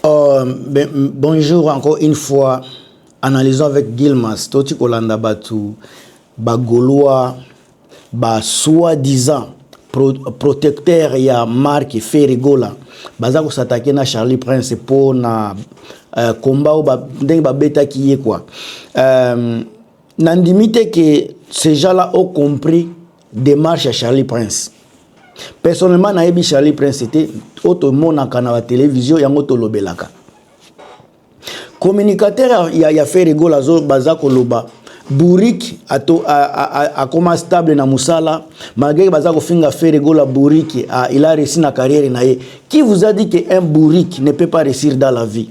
Euh, ben, bonjour encore une fois. Analysons avec Gilmas. Toi, tu kolanda batu, ba Gaulois, ba soi-disant pro, protecteur ya Marc Ferrigola. Baza ko s'attaquer na Charlie Prince pour na euh, combat ou ba ndenge ba beta qui est quoi. Euh, nandimi te que ces gens-là ont compris demarche ya charlie prince personnellement nayebi charlie prince te oyo tomonaka na batelevizio yango tolobelaka communicateur ya, ya feregola baza koloba buriki akoma stable na mosala malgré baza kofinga feregola buriki il a réussi na carrière na ye qui vous a dit que un buriki ne peut pas réussir dans la vie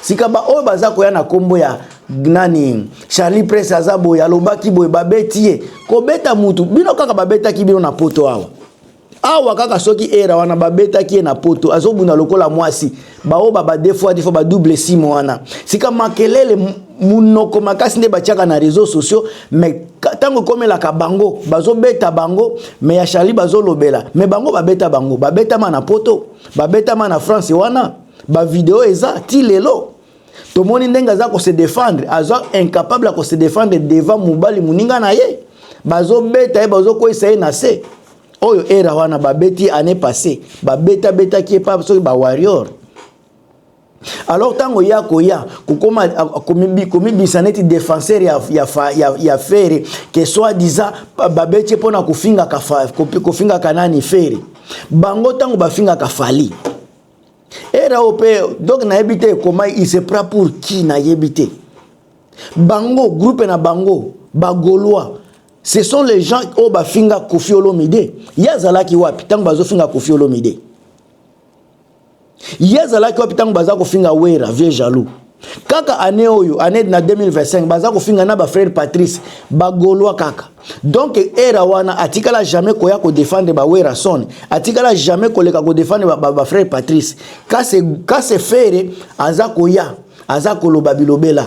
sika baoyo baza koya na nkombo ya nani charlie presse aza boye alobaki boye babeti ye kobeta mutu bino kaka babetaki bino na poto awa awa kaka soki era wana babetaki ye na poto azobunda lokola mwasi baoyo babadefoadifo badouble sime wana sika makelele monoko makasi nde batiaka na réseau sociaux mais ntango ekomelaka bango bazobeta bango me ya charlie bazolobela me bango babeta bango babetama na poto babetama na france wana ba video eza ti lelo tomoni ndenge aza ko se défendre aza incapable ya ko se défendre devant mobali moninga na ye bazobeta ye bazokweyisa ye na se oyo era wana babeti ye année passé babetabetaki ye pa soki ba warrior alors ntango ye akoya kokoma komibisa neti défenseur ya, ya, ya, ya fere ke soit disant babeti ye mpo na kofingaka, kofingaka nani fere bango ntango bafingaka fali era oyo mpe donc nayebi te ekoma il se prend pour qui nayebi te bango groupe na bango bagolois ce sont les gens oyo bafinga kofi olomide ye azalaki wapi ntango bazofinga kofi olomide ye azalaki wapi ntango baza kofinga wera vieux jaloux kaka année oyo année na 2025 baza kofinga na ba frère Patrice ba gaulois kaka donc era wana atikala jamais koya ko défendre ba Werrason atikala jamais koleka ko défendre ba, ba, ba frère Patrice kase kase fere aza koya aza koloba bilobela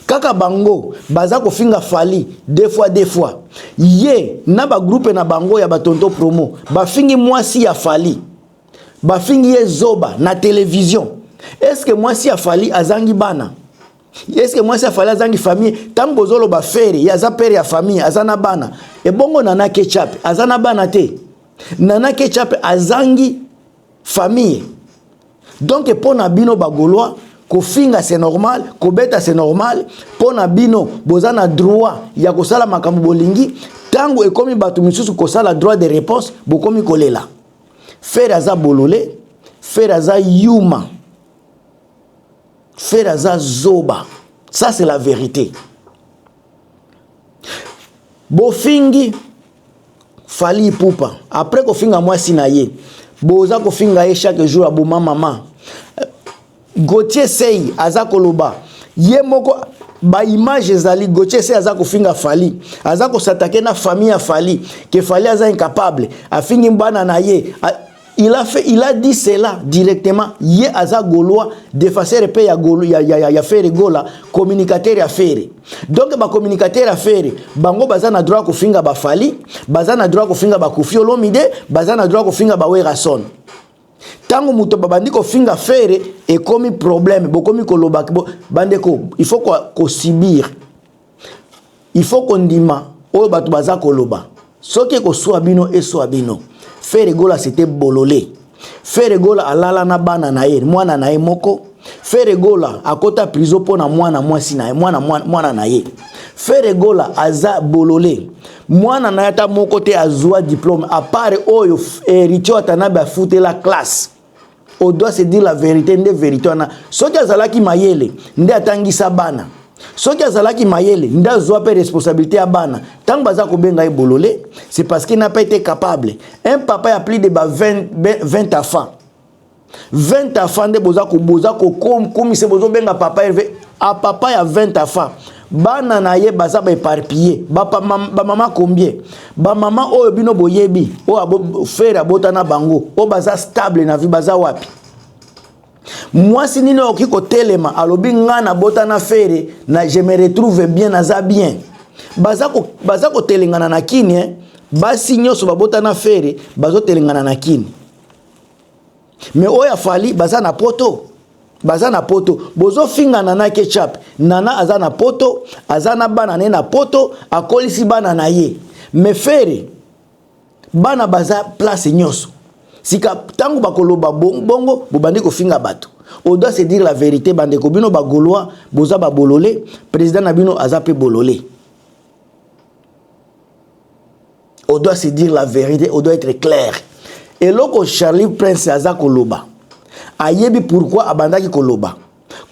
kaka bango baza kofinga fali deux fois deux fois ye na bagroupe na bango ya batonto promo bafingi mwasi ya fali bafingi ye zoba na television eske mwasi ya fali azangi bana eske mwasi ya fali azangi famille ntango bozoloba fere ye aza pere ya famille aza na bana ebongo nana kechape aza na bana te nana kechape azangi famille donk mpo na bino bagolois kofinga c'est normal kobeta c'est normal mpo na bino boza na droit ya kosala makambo bolingi ntango ekomi bato mosusu kosala droit de réponse bokomi kolela Ferre aza bolole, Ferre aza yuma, Ferre aza zoba. Ça c'est la vérité. Bofingi Fali Ipupa après kofinga mwasi na ye, boza kofinga ye chaque jour aboma mama Gauthier Sey aza koloba ye moko ba image ezali Gauthier Sey aza kofinga Fally aza kosatake na famille ya Fally ke Fally aza incapable afingi bana na ye a, il a fait il a dit cela directement ye aza golois defenseur pe ya golo ya ya, ya, ya Ferre Gola communicateur ya Ferre donc ba communicateur ya Ferre bango baza na droit kofinga ba Fally baza na droit kofinga ba Koffi Olomide baza na droit kofinga ba Werrason tango moto babandi kofinga fere ekomi problème bokomi koloba bo, bandeko il faut kosibir ko il faut kondima oyo bato baza koloba soki ekoswa bino eswa bino fere gola sete bolole fere gola alala na bana na ye mwana na ye moko fere gola akota prison mpo na mwana mwasi na ye mwana, mwana, mwana na ye fere gola aza bolole mwana na ye ata moko te azwa diplome apart oyo heritier watanabe afutela classe au doit se dire la verité nde verité wana soki azalaki mayele nde atangisa bana soki azalaki mayele nde azwa mpe responsabilité ya bana ntango baza kobenga ye bolole c'est parce que n'a pas été capable un papa ya plus de ba 20, 20 enfants 20 afa nde boza boza kokomisa bozobenga papa herve a papa ya 20 afa bana na ye baza baeparpille bamama combien bamama oyo bino boyebi oyo fere abota na bango oyo baza stable na vie baza wapi mwasi nini okoki kotelema alobi ngai nabota na fere na je me retrouve bien naza bien baza kotelengana na kini eh? basi nyonso babota na fere bazotelengana na kini mais oyo ya fali baza na poto baza na poto bozofinga nana ketchup nana aza na poto aza na bana ne na poto akolisi bana na ye mais fere bana baza place nyonso sika ntango bakoloba bongo bobandi kofinga bato on doit se dire la vérité bandeko bino bagolois boza babolole président na bino aza mpe bolole on doit se dire la vérité on doit être clair eloko charlie prince aza koloba ayebi pourquoi abandaki koloba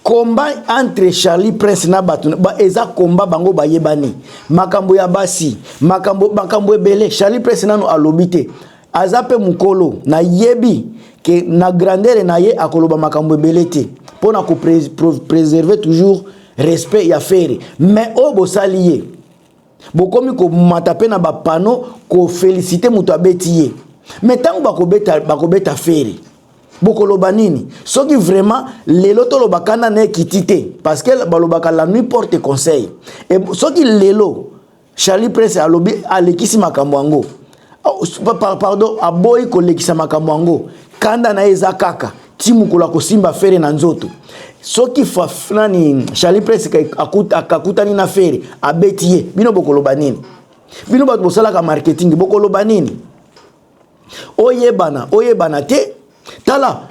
combat entre charlie prince na bato ba, eza combat bango bayebani makambo ya basi makambo makambo ebele charlie prince nano alobi te aza mpe mokolo nayebi ke na grandere na ye akoloba makambo ebele te mpo na kopreserve toujours respect ya fere mais oyo bosali ye bokomi komata mpe na bapano kofelisite moto abeti ye me ntango bakobeta, bakobeta feri bokoloba nini soki vraiment lelo toloba kanda na ekiti te parce que balobaka la nuit porte conseil e soki lelo charlie prince alobi alekisi makambo yango pardon aboyi kolekisa makambo yango kanda na ye eza kaka ti mokolo akosimba fere na nzoto soki nani charli pres akakutani na fere abeti ye bino bokoloba nini bino bato bosalaka marketing bokoloba nini oyebana oyebana te tala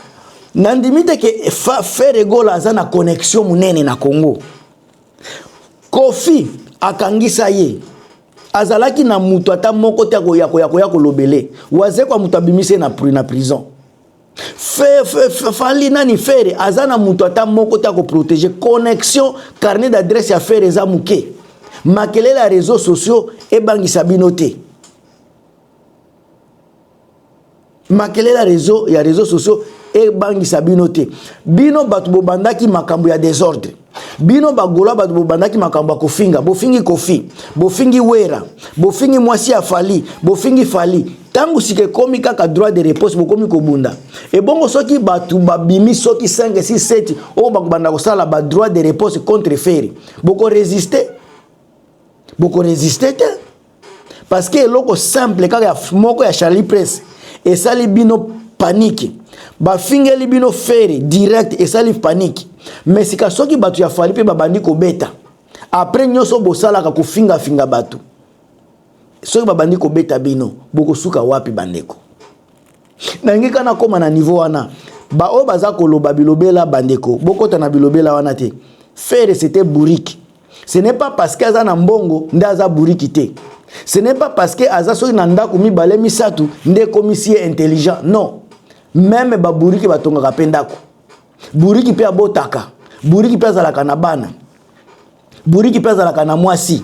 nandimi te ke fere gola aza na connexion monene na congo Koffi akangisa ye azalaki na mutu ata moko te akoya koya koya kolobele wazekwa mutu abimisi ye na na prison fe, fe, fe, fali nani fere aza na mutu ata moko te akoprotege connexion carnet d'adresse ya fere eza moke makelele ya réseaux sociaux ebangisa bino te makelele ya reseau ya reseau sociaux ebangisa bino te bino bato bobandaki makambo ya desordre bino bagola bato bobandaki makambo ya kofinga bofingi kofi bofingi wera bofingi mwasi ya fali bofingi fali ntango sika ekomi kaka droit de réponse bokomi kobunda ebongo soki bato babimi soki 5 6 7 oyo bakobanda kosala ba droit de réponse contre feri bokoresiste bokoresiste te parce que eloko simple kaka ya moko ya Charlie Prince esali bino panique bafingeli bino fere direct esali panique mais sika soki bato ya fali mpe babandi kobeta après nyonso bosalaka kofingafinga bato soki babandi kobeta bino bokosuka wapi bandeko nalingi kaka nakóma na niveau wana baoyo baza koloba bilobela bandeko bokota na bilobela wana te fere c'était bourrique ce n'est pas parce que aza na mbongo nde aza bourrique te ce n'est pas parce que aza soki na ndako mibale misato nde ekomisi ye intelligent non meme babourrique batongaka mpe ndako buriki mpe abotaka buriki mpe azalaka na bana buriki mpe azalaka na mwasi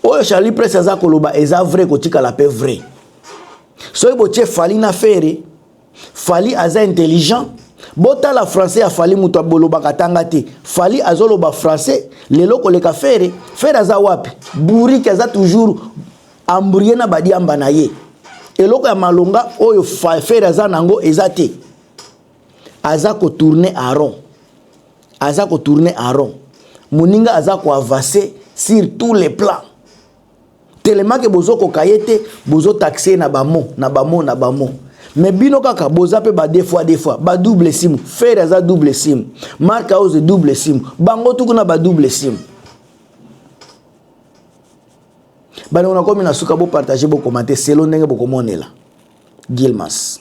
oyo charlie presse aza koloba eza vrai kotikala mpe vrai soki botie fali na fere fali aza intelligent botala français ya fali moto abolobaka tanga te fali azoloba français lelo koleka fere fere aza wapi buriki aza toujours ambrie na badiamba na ye eloko ya malonga oyo fere aza na yango eza te aza ko tourner à rond aza ko tourner à rond moninga aza ko avancer sur tous les plans tellement que bozo koka ye te bozo taxer na ba mots na ba mots na ba mots me bino kaka boza mpe ba deux fois deux fois ba double sim fere aza double sim mark house double sim bango tuku na ba double sim bandeko nakomi na suka bopartage bokomante selo ndenge bokomonela gilmas